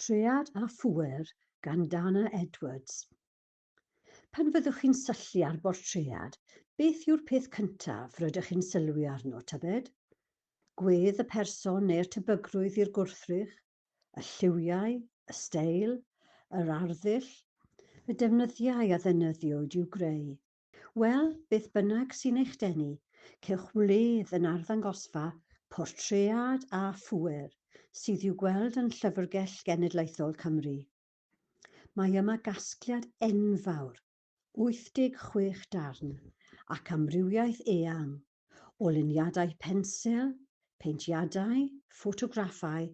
Traead a Phŵer gan Dana Edwards. Pan fyddwch chi'n syllu ar bortread, beth yw'r peth cyntaf rydych chi'n sylwi arno, tybed? Gwedd y person neu'r tebygrwydd i'r gwrthrych? Y lliwiau? Y steil? Yr arddull? Y defnyddiau a ddefnyddiwyd i'w greu? Wel, beth bynnag sy'n eich denu, cewch wledd yn arddangosfa Portread a Phŵer sydd i'w gweld yn Llyfrgell Genedlaethol Cymru. Mae yma gasgliad enfawr, 86 darn, ac amrywiaeth eang o luniadau pensil, peintiadau, ffotograffau,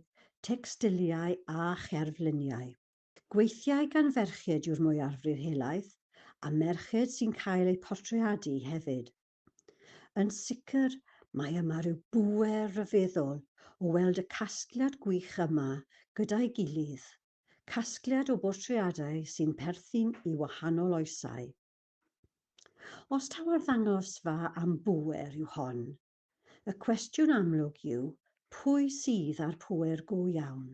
tecstiliau a cherfluniau. Gweithiau gan ferched yw'r mwyafrif helaeth, a merched sy'n cael eu portreadu hefyd. Yn sicr, mae yma rhyw bŵer ryfeddol o weld y casgliad gwych yma gyda'i gilydd, casgliad o bortreadau sy'n perthyn i wahanol oesau. Os taw arddangosfa am bŵer yw hon, y cwestiwn amlwg yw pwy sydd â'r pŵer go iawn?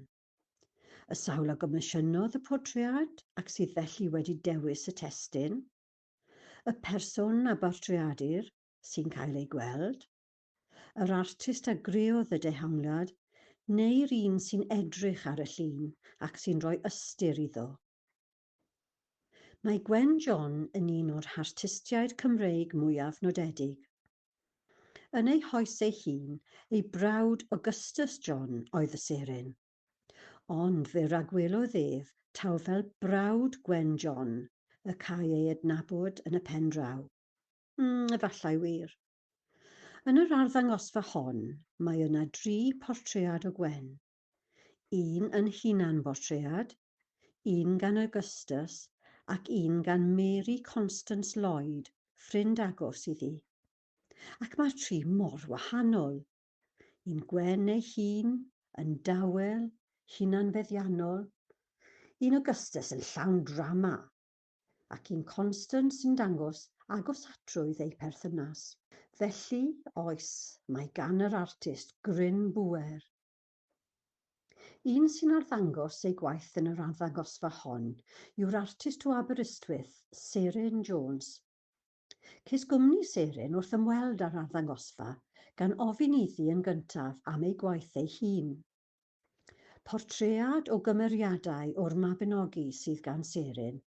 Y sawl a gomisiynnodd y portread ac sydd felly wedi dewis y testun. Y person a bortreadir, sy'n cael ei gweld. Yr artist a greodd y dehongliad, neu'r un sy'n edrych ar y llun ac sy'n rhoi ystyr iddo. Mae Gwen John yn un o'r hartistiaid Cymreig mwyaf nodedig. Yn ei hoes ei hun, ei brawd Augustus John oedd y seren. Ond fe ragwelodd ef taw fel brawd Gwen John y câi ei adnabod yn y pen draw. Mm, efallai wir. Yn yr arddangosfa hon, mae yna dri portread o Gwen, un yn hunanbortread, un gan Augustus ac un gan Mary Constance Lloyd, ffrind agos iddi. Ac mae'r tri mor wahanol! Un gwên ei hun, yn dawel, hunanfeddiannol. Un Augustus yn llawn drama, ac un constant sy'n dangos agosatrwydd eu perthynas. Felly, oes, mae gan yr artist gryn bŵer. Un sy'n arddangos ei gwaith yn yr arddangosfa hon yw'r artist o Aberystwyth, Seren Jones. Ces gwmni Seren wrth ymweld â'r arddangosfa, gan ofyn iddi yn gyntaf am ei gwaith ei hun. Portread o gymeriadau o'r Mabinogi sydd gan Serin,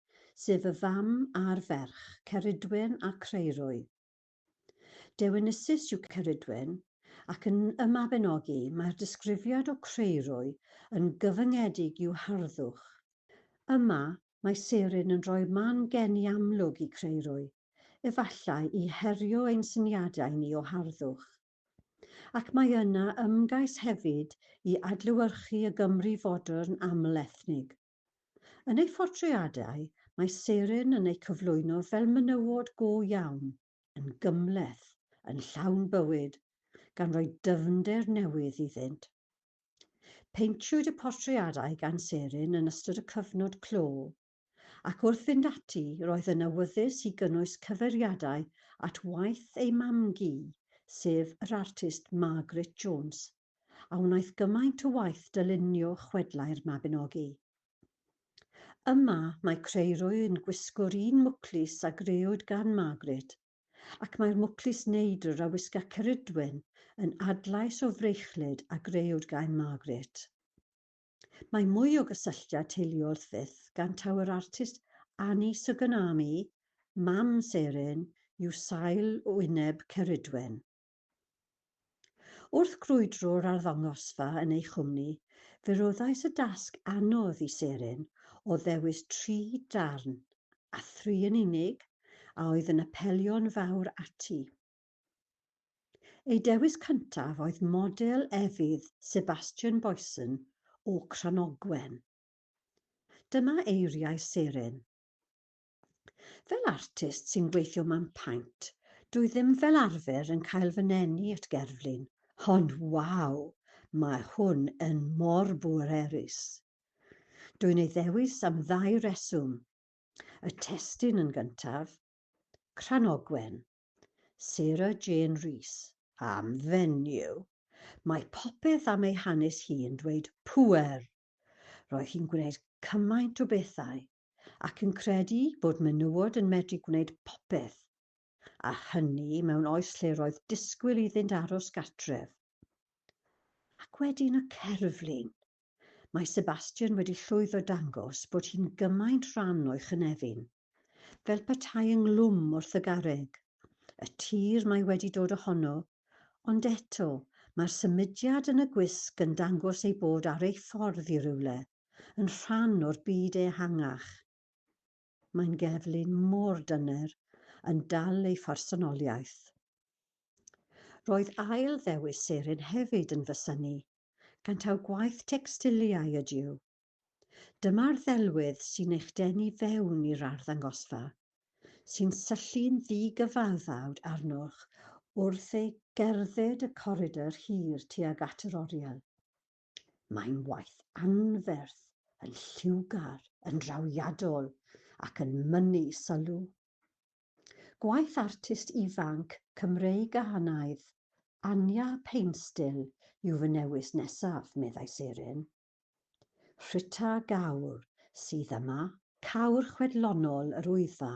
sef y fam a'r ferch, Ceridwen a Creirwy. Dewinisus yw Ceridwen, ac yn Y Mabinogi mae'r disgrifiad o Creirwy yn gyfyngedig i'w harddwch. Yma, mae Serin yn rhoi man geni amlwg i Creirwy, efallai i herio ein syniadau ni o harddwch. Ac mae yna ymgais hefyd i adlewyrchu y Gymru fodern aml-ethnig. Yn ei phortreadau, mae Seren yn eu cyflwyno fel menywod go iawn, yn gymhleth, yn llawn bywyd, gan roi dyfnder newydd iddynt. Peintiwyd y portreadau gan Seren yn ystod y cyfnod clo, ac wrth fynd ati roedd yn awyddus i gynnwys cyfeiriadau at waith ei mam-gu, sef yr artist Margaret Jones, a wnaeth gymaint o waith dylunio chwedlau'r Mabinogi. Yma, mae Creirwy yn gwisgo'r un mwclis a grëwyd gan Margaret, ac mae'r mwclis neidr a wisga Ceridwen yn adlais o freichllyd a grëwyd gan Margaret. Mae mwy o gysylltiad teuluol wrth fyth gan taw yr artist Anni Suganami, mam Serin, yw sail wyneb Ceridwen. Wrth grwydro'r arddangosfa yn ei chwmni, fe roddais y dasg anodd i Serin o ddewis tri darn, a thri yn unig, a oedd yn apelio'n fawr ati. Ei dewis cyntaf oedd model efydd Sebastian Boysen o Cranogwen. Dyma eiriau Seren. Fel artist sy'n gweithio mewn paent, dwi ddim fel arfer yn cael fy nenu at gerflun, ond waw, mae hwn yn mor bwerus! Dwi'n ei ddewis am ddau reswm. Y testun yn gyntaf, Cranogwen. Sarah Jane Rees, am fenyw. Mae popeth am ei hanes hi'n dweud pŵer! Roedd hi'n gwneud cymaint o bethau, ac yn credu bod menywod yn medru gwneud popeth, a hynny mewn oes lle roedd disgwyl iddynt aros gartref. Ac wedyn y cerflun! Mae Sebastian wedi llwyddo dangos bod hi'n gymaint rhan o'i chynefin. Fel petai ynghlwm wrth y garreg. Y tir mae wedi dod ohono, ond eto, mae'r symudiad yn y gwisg yn dangos ei bod ar ei ffordd i rywle, yn rhan o'r byd ehangach. Mae'n geflun mor dyner, yn dal ei phersonoliaeth. Roedd ail ddewis Serin hefyd yn fy synnu, gan taw gwaith tecstiliau ydyw. Dyma'r ddelwedd sy'n eich denu fewn i'r arddangosfa, sy'n syllu'n ddi-gyfaddawd arnoch wrth ei gerdded y coridr hir tuag at yr oriel. Mae'n waith anferth, yn lliwgar, yn drawiadol ac yn mynnu sylw. Gwaith artist ifanc Cymreig-Gahanaidd, Anya Painstill yw fy newis nesaf, meddai Serin. Rhita Gawr sydd yma. Cawr chwedlonol yr Wyddfa,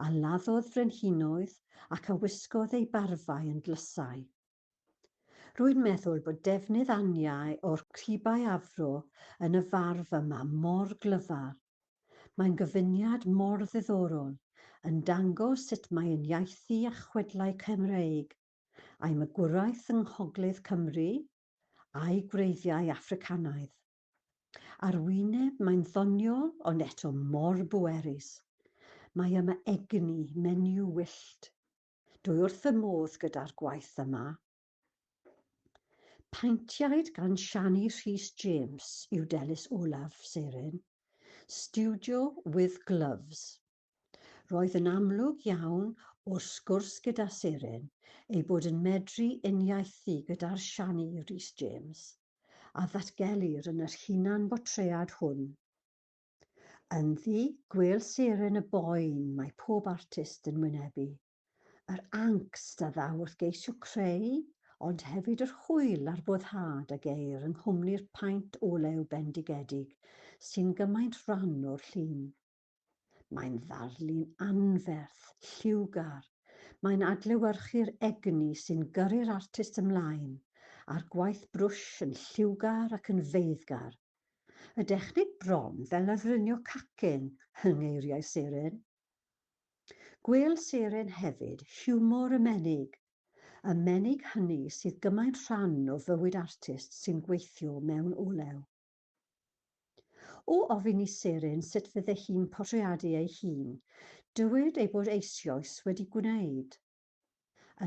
a laddodd frenhinoedd ac a wisgodd ei barfau yn dlysau, Rwy'n meddwl bod defnydd aniau o'r cibau afro yn y farf yma mor glyfar. Mae'n gyfuniad mor ddiddorol, yn dangos sut mae ein iaithu a chwedlau Cymreig, a'i magwraeth yng Ngogledd Cymru, a'i gwreiddiau Affricanaidd. Ar wyneb, mae'n ddoniol, ond eto mor bwerus. Mae yma egni, menyw wyllt. Dwi wrth fy modd gyda'r gwaith yma. Paentiaid gan Shani Rhys James yw Delis Olaf Seren, Studio With Gloves. Roedd yn amlwg iawn o'r sgwrs gyda Seren ei bod yn medru uniaethu gyda'r Shani Rhys James a ddatgelir yn yr hunan-bortread hwn. Ynddi gwêl seren y boen mae pob artist yn wynebu. Yr angst a ddaw wrth geisio creu, ond hefyd yr hwyl a'r boddhad a geir yng nghwmni'r paent olew bendigedig sy'n gymaint rhan o'r llun. Mae'n ddarlun anferth, lliwgar, mae'n adlewyrchu'r egni sy'n gyrru'r artist ymlaen, a'r gwaith brwsh yn lliwgar ac yn feiddgar, Y dechneg bron fel lafrunio cacen yng ngeiriau Seren. Gwêl Seren hefyd hiwmor y menig, y menig hynny sydd gymaint rhan o fywyd artist sy'n gweithio mewn olew. O ofyn i Seren sut fydde hi'n portreadu ei hun, dywed ei bod eisioes wedi gwneud.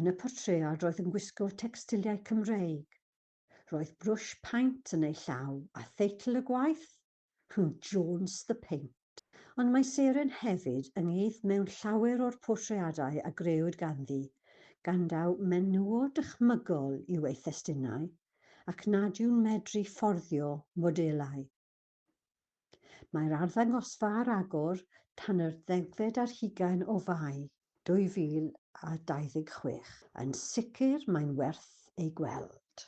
Yn y portread roedd yn gwisgo tecstiliau Cymreig, Roedd brwsh paent yn ei llaw, a theitl y gwaith? Huw Jones The Paint. Ond mae Seren hefyd ynghyd mewn llawer o'r portreadau a grëwyd ganddi, gan daw menywod dychmygol i'w ei thestunau, ac nad yw'n medru fforddio modelau. Mae'r arddangosfa ar agor tan yr ddegfed ar hugain o Fai 2026. Yn sicr mae'n werth ei gweld.